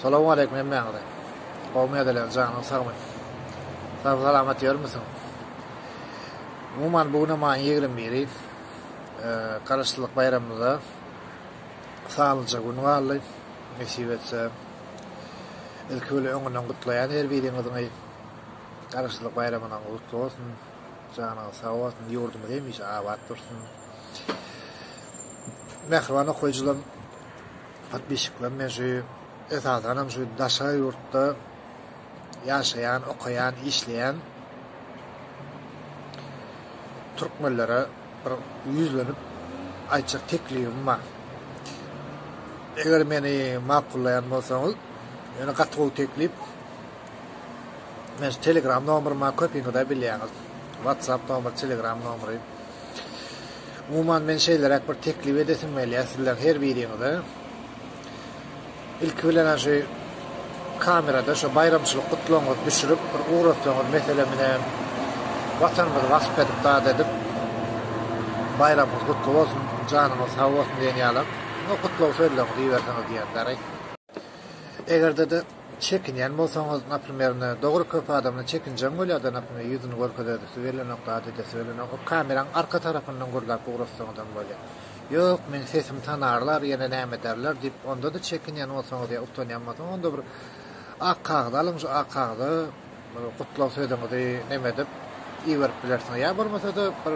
Salam aleýkum hemmäňize. Gowmy ýadalan janyň sagmy. Sag salamat ýörmüsiň. Umuman bu güne maýyň ýigrimi biri. Garaşsyzlyk baýramymyza sanlyja gün galdy. Nesip etse ilki bilen öňünden gutlaýan her biriňiziňi. Garaşsyzlyk baýramynyň gutly bolsun. Janyňyz sag bolsun. Ýurdumyz hemişe abat dursun. Mähriban okyjylarym. Podpisçikler men şu esasanam şu daşary ýurtda ýaşaýan, okaýan, işleýän türkmenlere bir ýüzlenip aýtjak teklibim bar. Eger meni makullaýan bolsaňyz, ýöne gaty gowy teklip. Men Telegram nomeryma köpiňiz-de bilýäňiz. WhatsApp nomer, Telegram nomery. Umuman men şeýleräk bir teklip edesim gelýär sizleriň her biriňize. Ilki bilen şu kamerada şu baýramçylyk gutlagyňyzy düşürip bir ugratsaňyz meselem ine watanymyzy wasp edip zat edip baýramyňyz gutly bolsun janyňyz sag bolsun diýen ýaly gutlag sözleňizi iberseňiz diýýän däri. Egerde-de çekinýän bolsaňyz, naprimerine, dogry köp adamda çekinjeň bolýar-da, naprimer, ýüzüni görkezesi gelenok, zat edesi gelenok, o kameraň arka tarapyndan gürläp ugrassaňyzam bolýar. Ýok, meni sesim tanarlar, ýene näme ederler diýip, onda-da çekinýän bolsaňyz ýa utanýan bolsaňyz, onda bir ak kagyz alyň, şu ak kagyza, Bir gutlag sözüňizi neme edip iberip bilersiňiz ýa bolmasa-da bir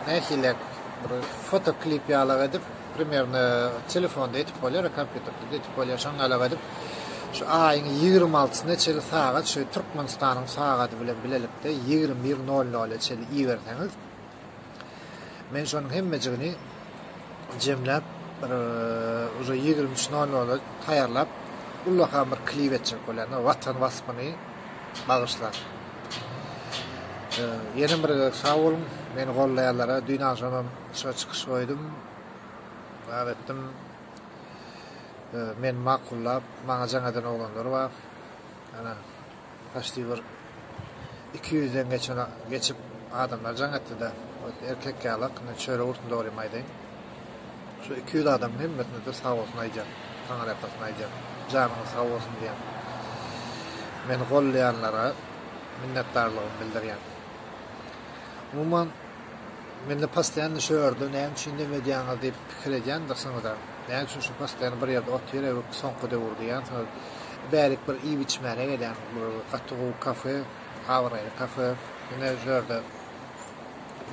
nähiliräk bir foto klip ýalyrak edip primerno telefonda etip bolýar ýa kompýuterdede etip bolýar şoň ýalyrak edip şu aýyň ýigrimi altysyna çenli sagat şu türkmenistanyň sagady bilen bilelikde ýigrimi bir nol nola çenli iberseňiz Men şonuň hemmejigini jemläp, bir uje ýigrimi üç nol nola taýýarlap, ullakan bir klip etjek bolýan, Watan waspyny bagyşlap. Ýene bir gezek sag boluň, meni gollaýanlara, düýn agşam hem şo çykyş goýdum. Näme etdim? Men makullap, maňa jaň eden oglanlar bar. Ana, Poçti bir iki ýüzden geçen geçip adamlar jaň etdida erkek ýalak indi çörek urtun dogrymy aýdaýyn şu iki ýüz adamyň hemmesine de sag bolsun aýdýan taňyrýakasyn aýdýan janyňyz sag bolsun diýen meni gollaýanlara minnetdarlygymy bildirýän umuman Mende postoýanno şu ördi, näme üçin indeip öýdýäňiz diýip pikir edýändirsiniz-ä. Näme üçin şu postoýan bir ýerde otyr ebip soňky döwür diýýänsiňiz. Bärik bir iýip-içmäne gelýän, bir gaty gowy kafe, abraýly kafe. Ine şu ýerde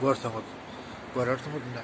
görseňiz görersiňiz indi.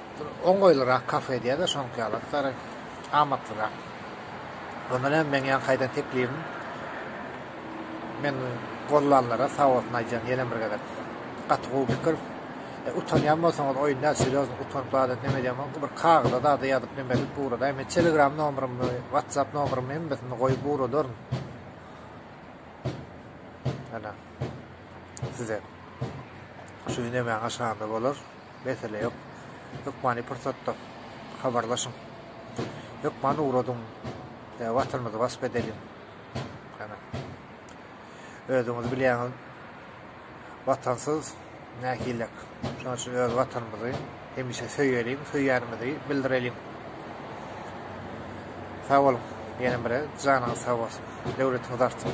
Bir oňaýlyrak kafe diýä-de şoňky ýaly aksary amatlyrak. Ondan hem meň ýaňky aýdan teklibim meni gollanlara sag bolsun aýdýan ýene bir gezek. Gaty gowy pikir. E, utanýan bolsaňyz oýun däl, serýozny utanyp zat edip neme edýän bolsaňyz bir kagyza zada ýazyp neme edip ugradaý. Men telegram nomerymy, whatsapp nomerymy hemmesini goýup ugradaryn. Ana. Size. Şu gün emäňe şanly bolar. Mesele ýok. Hökmany pursatda habarlaşyň. Hökman ugradyň. Däbi atylmyzy wasp edeliň. Hana. Özüňiz bilýäňiz. Watansyz nähilek. Şonuň üçin öz watanymyzy hemişe söýeliň, söýýänimizi bildireliň. Sag boluň. Ýene bire janyňyz sag bolsun. Döwletiňiz artsun.